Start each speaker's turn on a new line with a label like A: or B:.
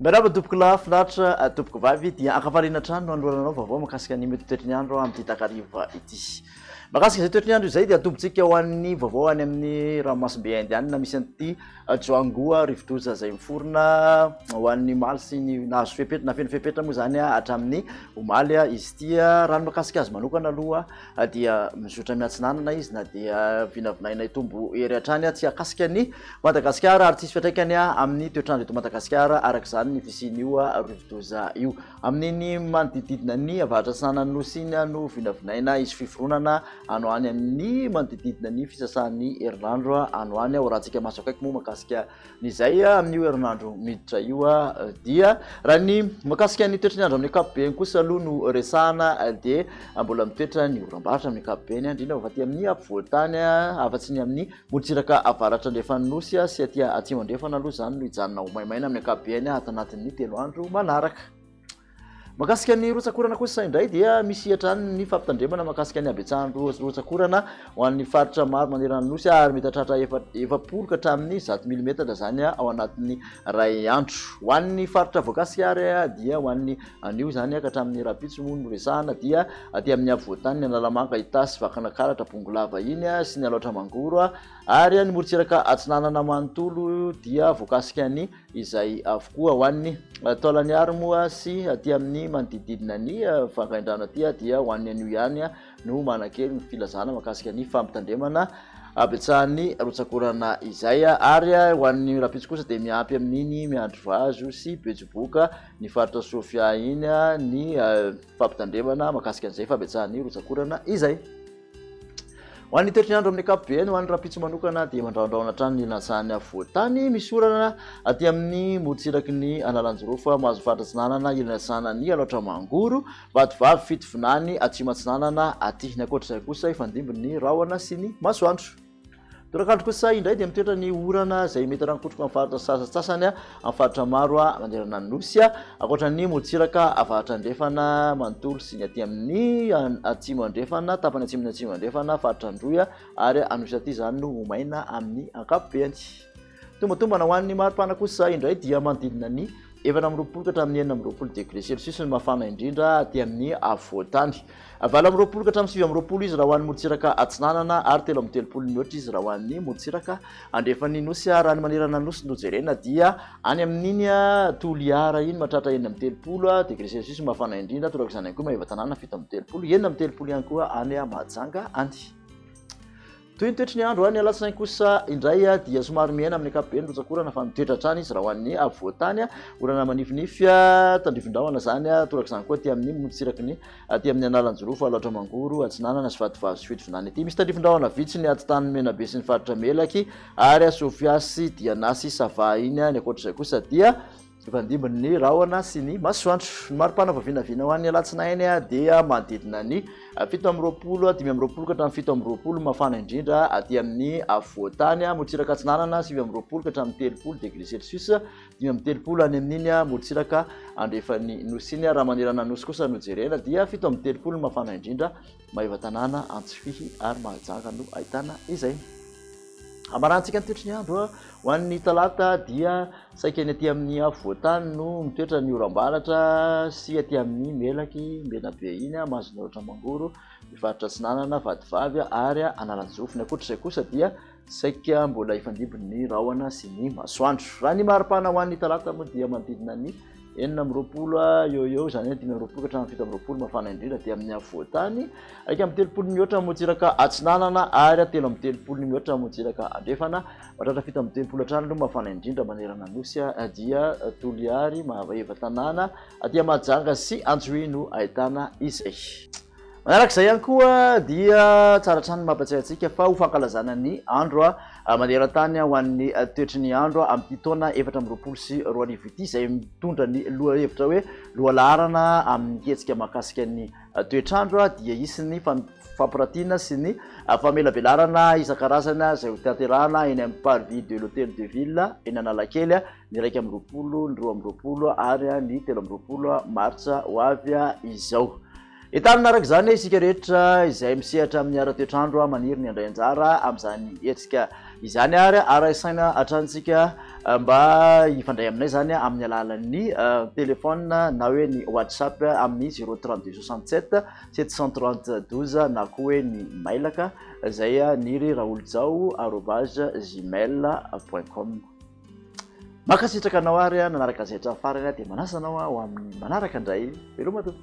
A: Miarahaba tompoko lahy, finaritra ah, tompoko vavy dia ankafaliana hatrany no anoloranao vaovao makasika ny mety toetry ny andro amin'ity takariva ity. Makasika izay toetry ny andro izay dia atombotsika ho an'ny vaovao any amin'ny ranomasimbe indianina misy an'ity Ajoa angoa, rivodoza izay miforona ho an'ny maly sy ny nahazo fepetra, nafeno fepetra moa izany hatramin'ny omaly izy ity. Raha ny mahakasika azy manokana aloha dia mizotra miatsinanana izy na dia vinavinaina hitombo hery hatrany tsy hahakasika an'i Madagasikara ary tsisy fiantraikany amin'ny toetr'andro eto Madagasikara araka izany ny fisian'io rivodoza io. Amin' ny manodididina ny avaratrasahan' ny Nosy iny no vinavinaina hisy fiforonana ano any amin' ny manodididina ny fisasahan' ny herinandro ano any. Raha hatsika maso akaiky moa mahakasika ny izay amin' io herinandro miditra io dia raha ny mahakasika ny toetry ny andro amin' ny ankapobeny kosa aloha no resahana dia mbola mitoetra ny oram-barotra amin' ny ankapobeny indrindra fa aty amin' ny afovoan-tany afa-tsy ny amin' ny Morontsiraka avaratra-andrefan'ny Nosy sy aty atsimo-andrefana aloha izany no hijanona ho maimaina amin'ny ankapobeny ato anatin'ny telo andro manaraka. Mahakasika ny rotsakorana kosa indray dia misy hatrany ny fampitandremana mahakasika ny habetsahan'ny rotsakorana ho an'ny faritra maro manerana ny Nosy ary mety hahatratra efapolo ka hatramin'ny zato milimetatra izany ao anatin'ny iray andro. Ho an'ny faritra voakasika ary dia ho an'ny Anio izany ka hatramin'ny rahampitso moa no resahana dia aty amin'ny afovoan-tany ny Analamanga, Itasy, Vakinakaratra, Bongolava iny sy ny Alaotra Mangoro ary ny morontsiraka atsinanana manontolo dia voakasika ny izay avokoa. Ho an'ny taolan'ny Aro moa sy aty amin'ny manodidididina ny Vangaindrano aty dia ho an'ny anio ihany no manan-kery ny filazana mahakasika ny fampitandremana habetsahan'ny rotsak'orana izay ary ho an'ny rahampitso kosa dia miampy amin'iny Miandrivazo sy Bejoboka ny faritra Sofia iny ny fampitandremana makasika an'izay fabetsahan'ny rotsakorana izay ho an'ny toetry ny andro amin'ny akapobe ny ho an'ny rapitso manokana dia mandraondraona hatrany ny lantsahany afovoantany misy orana aty amin'ny morotsiraky ny analanjorofa mahazo faritra atsinanana ilany atsinanany alaotra mangoro vatovavy fitovinany atsimo atsinanana aty ny ankoatra izay kosa ifandimbin'ny rahona sy ny masoandro Torakandro kosa indray dia mitoetra ny orana izay mety harankotroka amin'ny faritra sasantsasany amin'ny faritra maro manerana ny nosy, ankoatra ny morontsiraka avaratra andrefana manontolo sy ny aty amin'ny atsimo andrefana, tapany atsimon'ny atsimo andrefana, faritra Androy ary Anosy aty izany no ho maina amin'ny ankapobeny. Tombatombana ho an'ny maripana kosa indray dia manodidina ny efatra amby roapolo ka hatramin'ny enina amby roapolo degré celsius ny mafana indrindra aty amin'ny afovoantany. Valo amby roapolo ka hatramin'ny sivy amby roapolo izy raha ho an'ny morontsiraka atsinanana ary telo amby telopolo mihoatra izy raha ho an'ny morontsiraka andrefan'ny nosy. Raha ny manerana ny nosy no jerena dia any amin'iny Toliara iny mahatratra enina amby telopolo degré celsius ny mafana indrindra, toraka izany ihany koa Maevatanàna fito amby telopolo, enina amby telopolo ihany koa any Mahajanga any. Toy ny toetry ny andro, ny alatsinainy kosa indray dia somary mihena amin'ny ankapobeny ny rotsakorana fa mitoetra hatrany izy raha ho an'ny afovoan-tany, orana manifinify tandrivindrahona izany, torak'izany koa aty amin'ny morontsiraky ny aty amin'ny analanjirofo, alaotra mangoro atsinanana sy vatovazo sy fidivinana ity. Misy tandrivindrahona vitsy ny aty tanin'i Menabe sy ny faritra Melaky ary Sofia sy Diana sy Sava iny, ny ankoatr'izay kosa dia. Mifandimby ny rahona sy ny masoandro. Ny maripana vao vinavina ho an'ny alatsinainy dia manodidina ny fito amby roapolo, dimy amby roapolo ka hatramin'ny fito amby roapolo, mafana indrindra aty amin'ny afovoan-tany, morontsiraka atsinanana sivy amby roapolo ka hatramin'ny telopolo degré celsius, dimy amby telopolo any amin'iny morontsiraka andrefan'ny nosy iny, raha manerana ny nosy kosa no jerena dia fito amby telopolo ny mafana indrindra. Maevatanàna, Antsifihy ary Mahajanga no ahitana izay. Hamaranantsika ny toetry ny andro a, ho an'ny talata dia saika ny aty amin'ny afovoan-tany no mitoetra ny oram-baratra sy aty amin'ny melaky Menabe iny a, Mahazonoratra Mangoro, ny faritra Atsinanana, Vatovavy ary Analanjofy. Ny ankoatr'izay kosa dia Saika mbola hifandimby ny rahona sy ny masoandro. Raha ny maripana ho an'ny talata moa dia manodidina ny enina amby roapolo eo eo, izany hoe dimy amby roapolo ka hatramin'ny fito amby roapolo mafana indrindra dia amin'ny afovoan-tany, iraika amby telopolo mihoatra motsiraka atsinanana ary telo amby telopolo mihoatra motsiraka andrefana, mahatratra fito amby telopolo hatrany aloha mafana indrindra manerana Anosy dia Toliary, Mahavaheva, Tanàna, aty Mahajanga sy Antsohihy no ahitana izay. Manaraka izay ihany koa dia tsara hatrany ny mampatsiahy antsika fa ho fankalazana ny andro maneran-tany ho an'ny toetry ny andro amin'ity taona efatra amby roapolo sy roa arivo ity izay mitondra ny lohahevitra hoe Lohalaharana amin'ny hetsika mahakasika ny toetr'andro dia hisy ny fampiratiana sy ny famelabelarana isan-karazany izay hotanterahana eny amin'ny Parvis de l'Hôtel de Ville eny Analakely ny iraika amby roapolo, ny roa amby roapolo ary ny telo amby roapolo martsa ho avy izao. Entanina araka izany isika rehetra izay misehatra amin'ny ara-toetrandro maniry ny handray anjara amin'izany hetsika izany ary arahy saina hatrany isika mba hifandray aminay izany amin'ny alalan'ny telefaonina na hoe ny WhatsApp amin'ny zéro trente deux soixante sept sept cent trente douze na koa hoe ny mailaka izay niry raolojao arobase gmail point com. Mankasitraka anao ary a nanaraka an'izay hatramin'ny farany a dia manasa anao a ho amin'ny manaraka indray veloma tompo